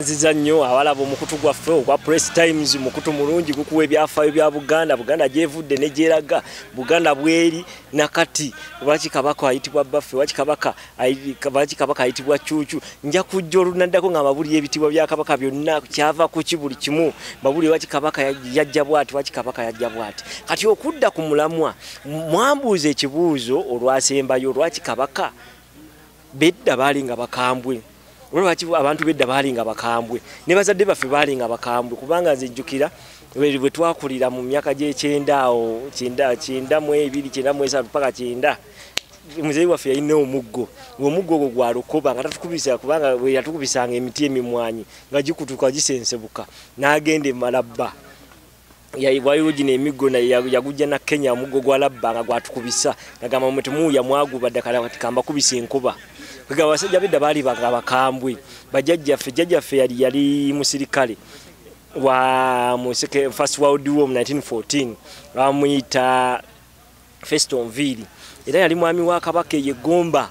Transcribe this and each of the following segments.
nziza nnyo awalaba omukutu gwaffe ogwa press times mukutu mulungi gukuwa ebyafaayo bya buganda buganda gyevudde negyeraga buganda bweri nakati lwaki kabaka ayitibwa bbaffe lwaki kabaka lwaki kabaka ayitibwa cucu nja kujja olunaddako nga mabulira ebitibwa bya kabaka byonna kyava kuki buli kimu mabulira lwaki kabaka yajja bwati lwaki kabaka yajja bwati kati okudda ku mulamwa mwambuuza ekibuuzo olwasembayo lwaki kabaka bedda baali nga bakambwe olwaki abantu bedda baalinga bakambwe ne bazadde baffe baalinga bakambwe kubanga nzijjukira bwe twakulira mu myaka gy'ekyenda awo kyenda mu ebiri kyenda mu esatu paka kyenda muzeeyi waffe yalina omuggo ngaomuggo ogwo gwa lukoba nga tatukubisa kubanga yatukubisanga emiti emimwanyi nga gikutuka gisensebuka n'agenda emalabba waliwo gino emiggo yagujja na kenya omuggo gwa labba nga gwatukubisa nagamba mwe temuwuya mwaguba ddakala kati kambakubisa enkuba kwega abasajja bedda baali nga bakambwe bajajjaffe jajjaffe yali yali musirikale wa museke first world war mu 1914 bamuyita Festo Nviiri era yali mwami wa Kabaka eye Gomba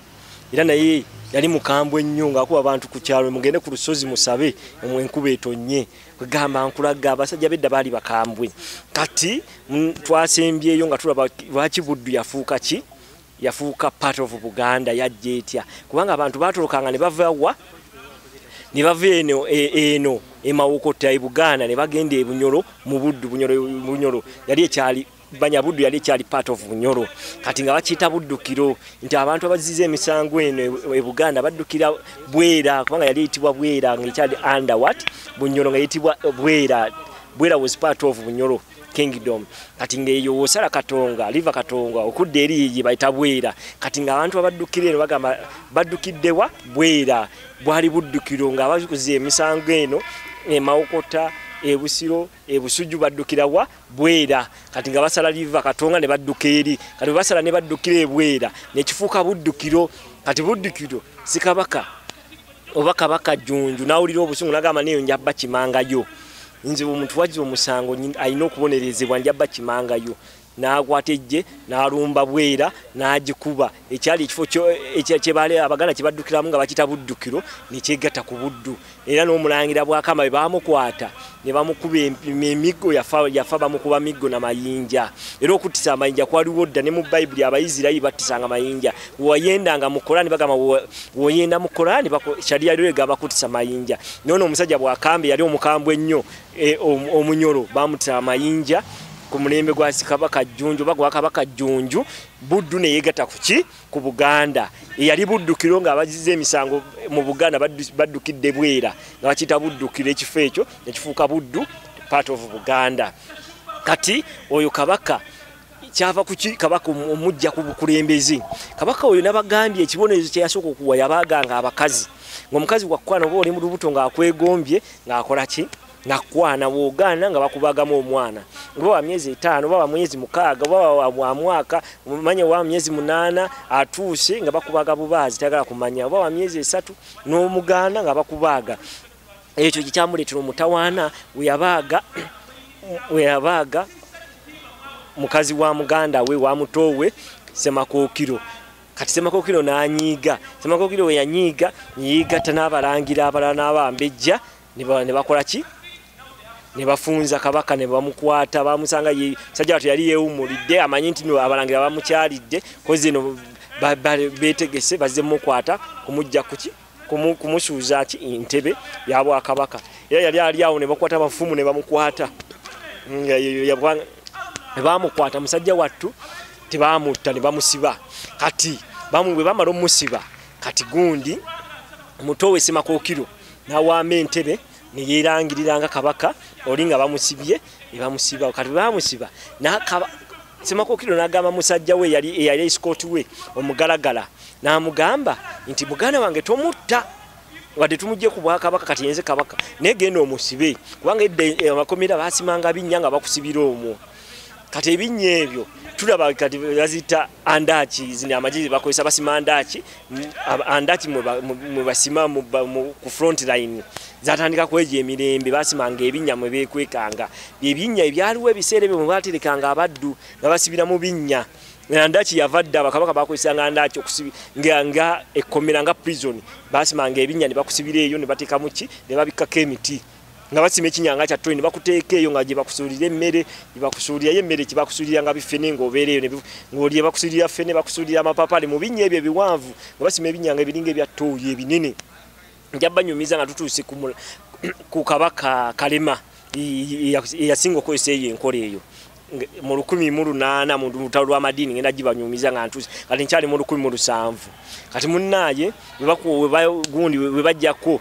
era naye yali mukambwe nnyo ng'akuba abantu ku kyalo mugende ku lusozi musabe mwe enkuba etonnye kwegamba nkulaga abasajja bedda baali bakambwe kati mm, twasembyeyo nga tulaba lwaki buddu yafuuka ki yafuuka part of buganda yajja etya kubanga abantu batolokanga ne bava wa ne bava eno e, eno emawokota e buganda ne bagenda ebunyolo mu buddu bunyolo yali ekyali banya buddu yali ekyali part of bunyoro kati nga bakiyita buddukiro nti abantu abaziza emisango eno e, e buganda baddukira bwera kubanga yali eyitibwa bwera nga ekyali under what bunyoro nga eyitibwa e, bwera bwera was part of bunyoro kingdom kati ngeyo osala katonga liva katonga okudda eri ye bayita bwera kati nga abantu abaddukira eno bagamba baddukiddewa bwera bwali buddukiro nga abakuza emisango eno emawokota ebusiro e Busujju baddukira wa Bwera kati nga basala liva Katonga ne badduka eri kati basala ne baddukira e Bwera ne kifuuka buddukiro kati buddukiro si kabaka oba kabaka Jjunju n'awulira obusungu n'agamba neeyo nja bakimangayo nze omuntu wazza omusango alina okubonerezebwa nja bakimangayo n'akwata eggye n'alumba bwera n'agikuba ekyali ekifo kyebale abaganda kye baddukiramu nga bakita buddukiro ne kyegatta ku buddu era n'omulangira bwakama be baamukwata ne bamukuba emiggo yafa bamukuba miggo na mayinja era okuttisa amayinja kwaliwo dda ne mu bayibuli abaisirairi battisanga mayinja weyendanga mu korani bagamba woyenda mu korani shariya lyo egamba kuttisa mayinja noono omusajja bwakambe yali omukambwe ennyo e, omunyolo bamutira amayinja ku mulembe gwa sikabaka jjunju oba gwa kabaka jjunju buddu ne yeegata kuki ku buganda eyali buddukiro nga abaziza emisango mu buganda baddukidde bwera nga bakiyita buddukiro ekifo ekyo nekifuuka buddu part of buganda kati oyo kabaka kyava kuki kabaka omujja ku bukulembeze kabaka oyo nabagambye ekibonerezo kyeyasooka okuwa yabaganga abakazi ngaomukazi wakwana oba oli mu lubuto ngaakwegombye ngaakola ki nakwana bwogaana nga bakubagamu omwana oba wa myezi etaano oba wa mwezi mukaaga oba wa mwaka manya wa myezi munaana atuuse nga bakubaga bubaazi tayagala kumanya oba wa myezi esatu n'omugaana nga bakubaaga ekyo kyekyamuleetera omutawaana weyabaaga weyabaaga mukazi wa muganda we wa mutoowe semakookiro kati semakookiro n'anyiiga semakookiro we yanyiiga neyeegatta n'abalangira abalala n'abambejja ne bakola ki ne bafunza kabaka ne bamukwata bamusanga sajja watu yali yeewumulidde amanyi nti abalangira bamukyalidde kozi eno beetegese bazze mukwata kumujja kuki kumusuuza ki entebe ya bwakabaka era yali ali awo ne bakwata abafumu ne bamukwata ne bamukwata musajja wattu tebamutta ne bamusiba kati bamubwe bamala omusiba kati gundi muto we semakookiro n'awaama entebe neyerangirira nga kabaka oli nga bamusibye nebamusiba kati bamusiba semakokiro nagamba musajja we yali eyali escot we omugalagala namugamba nti muganda wange tomutta wadde tumujje ku bwakabaka kati yenze kabaka naye genda omusibe kubanga edda eh, amakomera basimanga binnya nga bakusibira omwo kati ebinnya ebyo tulaba kati baziyita andaki zino amagezi bakozesa basima andaki andaki mwebasima ku front line zatandika kweja emirembe basimanga ebinnya mwe bekwekanga byebinnya ebyaliwo ebiseera ebyo mwebaterekanga abaddu nga basibira mu binnya andaki yava dda bakabaka bakozesanga andaki nga ekkomera nga prison basimanga ebinnya ne bakusibira eyo ne batekamuki ne babikkako emiti nga basima ekinyanga kya toni bakuteeka eyo nga gyebakusuulira emmere gyebakusuulira yo emmere kyebakusuulira nga bifene ngaobeera eyo ngaolye bakusuulira fene bakusuulira amapapali mu binnya ebyo ebiwanvu nga basima ebinyanga ebiringa ebya tooyi ebinene nja banyumiza nga tutuuse ku kabaka kalema eyasinga okozesa eyo enkola eyo mu lukumi mu lunaana mu lutalo lw'amadiini ngenda gibanyumiza nga ntuuse kati nkyali mu lukumi mu lusanvu kati munnaaye webagundi webajjako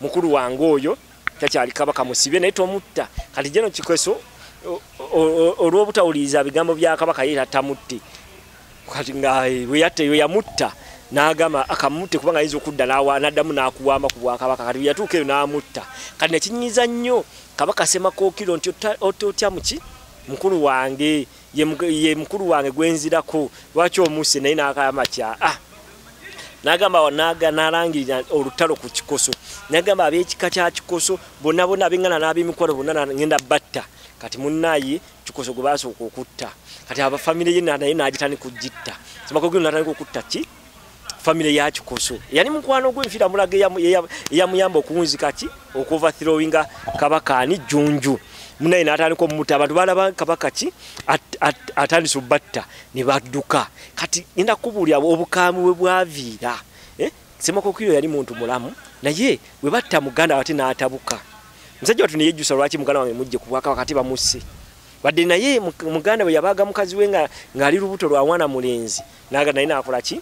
mukulu wange oyo takyali kabaka musibe naye tomutta kati jeno kikweso olw'obutawuliriza bigambo bya kabaka ye tamutte kati nga bweyatta eyo yamutta n'agamba akamutte kubanga ayinza okudda n'addamu n'akuwamba ku bwakabaka kati bweyatuuka eyo n'amutta kati nekinyiza nnyo kabaka semakookiro nti otya muki mukulu wange ye mukulu wange gwenzirako lwaki omuuse naye nakayama kya ah. nagamba naga nalangirira olutalo ku kikoso nagamba abekika kya kikoso bonna bonna abengana n'abemikwano bonna ngenda batta kati munnaye kikoso gwe basooka okutta kati abafamire ye naye nagitandika okugitta simakogino natandika okutta ki famire ya kikoso yali mukwano gwe nfira mulaga eyamuyamba okuwunzika ki okuva throwinga kabaka ani junju munaye natandika omumuta abantu balaba kabaka ki atandise obatta ne badduka kati enda kubuulira obukaamu bwe bwaviira eh? semakokiro yali muntu mulamu naye bwe batta muganda wate n'atabuka musajja watu neyejjusa lwaki muganda wange mujje ku bwakabaka ati bamusse wadde naye muganda bwe yabaaga mukazi we ng'ali lubuto lwa mwana mulenzi naga naye nakola ki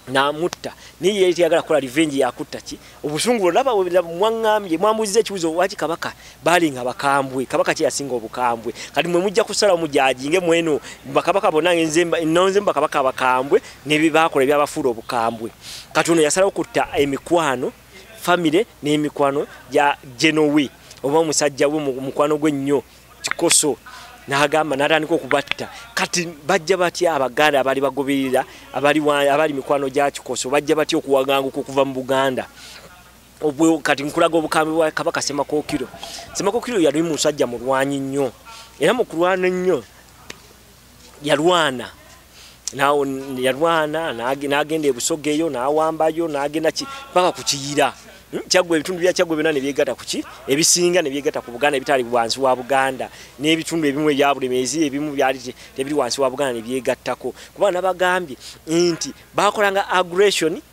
namutta naye yali teyagala kola revenge yakutta ki obusungu olaba mwaŋŋambye mwambuziza ekibuzo waki kabaka balinga bakambwe kabaka kye yasinga obukambwe kati mwe mujja kusala omujajinge mweno bakabaka bonna nonze mu bakabaka abakambwe nebebakola ebyabafuula obukambwe kati ono yasalawo kutta emikwano famire n'emikwano gya genowe oba omusajja we mukwano gwe nnyo kikoso n'agamba n'atandika okubatta kati bajja batya abaganda abali bagoberera abali mikwano gya kikoso bajja batya okuwaganguka okuva mu buganda obwo kati nkulaga obukambwe bwa kabaka semakokiro semakokiro yali musajja mulwanyi nnyo era mu kulwana ennyo yalwana nawo yalwana nagenda ebusoga eyo nawambayo nagenda paka ku kiyira hmm, kyagwa ebitundu bya kyagwa byona nebyegata kuki ebisinga nebyegata ku buganda ebitali wansi wa buganda n'ebitundu ebimu ebya bulemeezi ebimu byali tebiri wansi wa buganda nebyegattako kuba nabagambye nti bakolanga aggression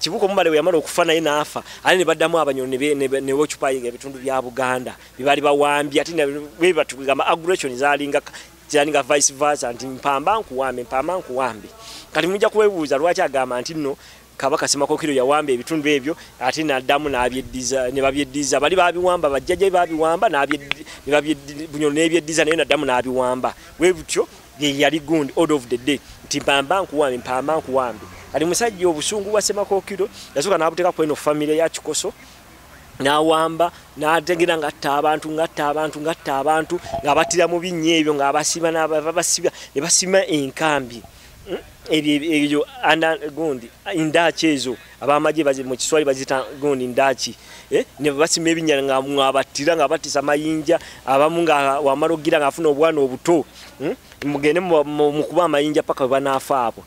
kibuka omubale bwe yamala okufa naye n'afa ate ne baddamu abanyolo ne wocupayinga ebitundu bya buganda bye baali bawambye ate bwe batugamba aggression zalinga kyani nga vice versa nti mpamba nkuwambe mpamba nkuwambe kati mujja kuwebuuza lwaki agamba nti nno kabaka semakokiro yawamba ebitundu ebyo ate naddamu nabyeddiza ne babyeddiza bali babiwamba bajjajja babiwamba nebabunyolo nebyeddiza naye naddamu nabiwamba we butyo yeyali gundi order of the day nti mpamba nkuwambe mpamba nkuwambe kati musajja obusungu bwa semakokiro yasooka n'abuteeka ku eno famire ya kikoso n'awamba n'ategera ng'atta abantu ng'atta abantu ng'atta abantu ng'abattira mu binnya ebyo ng'abasiba n'abasiba ne basima enkambi hmm? ebyo ebyo gundi endaaki ezo abamagye mu kiswali bazita gundi ndaki eh, ne basima ebinya nga mwabattira nga batisa amayinja abamu nga wamala okugira nga afuna obwana obuto hmm? mugende mu kuba amayinja paka webanaafa abo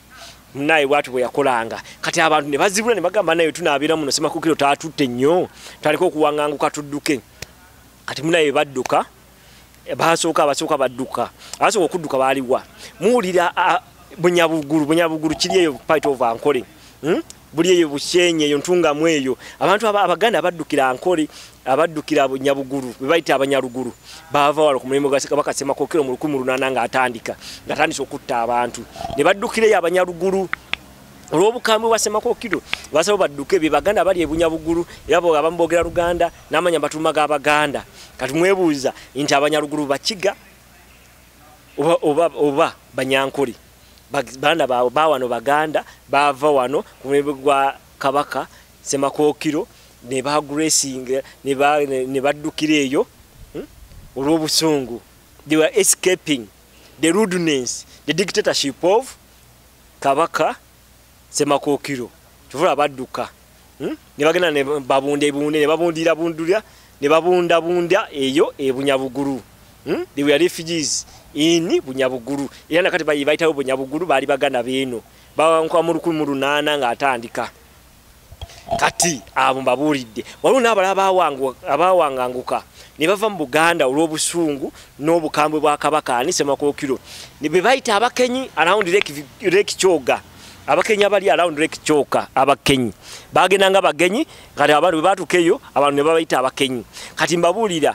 naye bwatu bwe yakolanga kati abantu ne bazibula ne bagamba naye tunaabeera muno semakukiro taatutte nnyo taleka okuwanganguka tudduke kati munaye badduka basooka basooka badduka abasooka okudduka baaliwa muwulira bunyabugulu bunyabugulu kiri eyo pite of ankole hmm? buli eyo bushenye eyo ntungamu eyo abantu abaganda abaddukira ankole abaddukira bunyabugulu bebayita abanyalugulu baava wala ku mulimu gwasekamakasemakookero mu lukumi lunana nga atandika ngaatandisa okutta abantu ne baddukireyo abanyalugulu olw'obukambwe bwasemakookiro basaba badduke bebaganda bali ebunyabugulu era abamu boogera luganda namanya batuma ga baganda kati mwebuuza nti abanyalugulu bakiga oba, oba, oba banyankole baana baabwe ba wano baganda baava wano ku mulembe gwa kabaka semakookiro ne bagracinga ne baddukira eyo hmm? olw'obusungu they were escaping the rudeness the dictatorship of kabaka semakookiro kyova olaba badduka hmm? ne bagenda ne babunda ebunde ne babundira bundulya ne babundabunda eyo ebunyabugulu hmm? they were refugees in bunyabugulu era nakati bayitawo bunyabugulu baali baganda beeno bawankuba mu lukumi mu lunaana ng'atandika kati abo mbabuulidde waliwo n'abalala abaawanganguka ne bava mu buganda olw'obusungu n'obukambwe bwa kabaka ani semakookiro be bayita abakenyi around lake kyoga abakenyi abali around lake kyoka abakenyi bagendanga bagenyi kati abantu bwe batuuka eyo abantu ne babayita abakenyi kati mbabuulira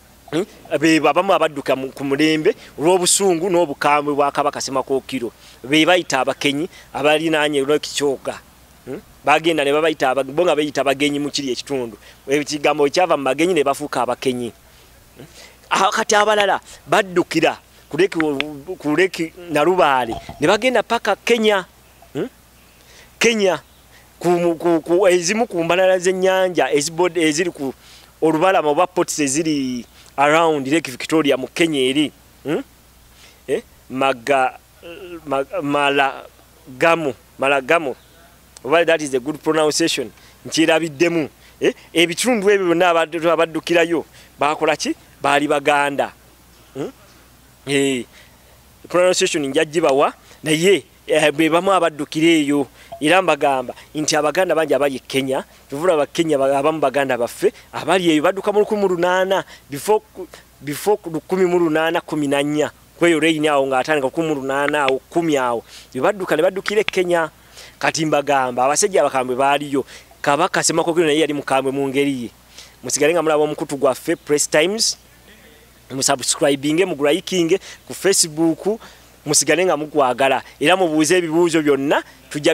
Hmm? bebo abamu abadduka ku mulembe olw'obusungu n'obukambwe bwa kabaka semakokiro be bayita abakenyi abalinaanye olwekikyoka hmm? bagenda ne babayita bo nga beyita bagenyi mu kiri ekitundu ekigambo ekyava mu bagenyi ne bafuuka abakenyi hmm? ah, kati abalala baddukira kuleki nalubaale ne bagenda paka kenya kenya ezimu ku mbalala z'ennyanja eziri ku olubalama oba pots eziri around lake victoria mu kenya eri hmm? eh? maga malagamu malagamu oba that is a good pronunciation nkirabiddemu eh? ebitundu ebyo byonna abaddukirayo bakola ki baali baganda hmm? eh, pronunciation njagibawa naye Eh, be bamu abaddukira eyo era mbagamba nti abaganda bangi abali e kenya tuvula abakenya abamu baganda baffe abali eyo badduka mu lukumi lunaana before lukumi mu lunaana kumi nanya kweyo reyini awo ngaatandika lukumi lunaana awo kumi awo bebadduka ne baddukira e kenya kati mbagamba abasajja abakambwe baaliyo kabaka semakokiro naye yali mukambwe mu ngeri ye musigale nga mulaba omukutu gwaffe press times musubscribinge mugulayikinge ku facebook musigale nga mukwagala era mubuuze ebibuuzo byonna tujja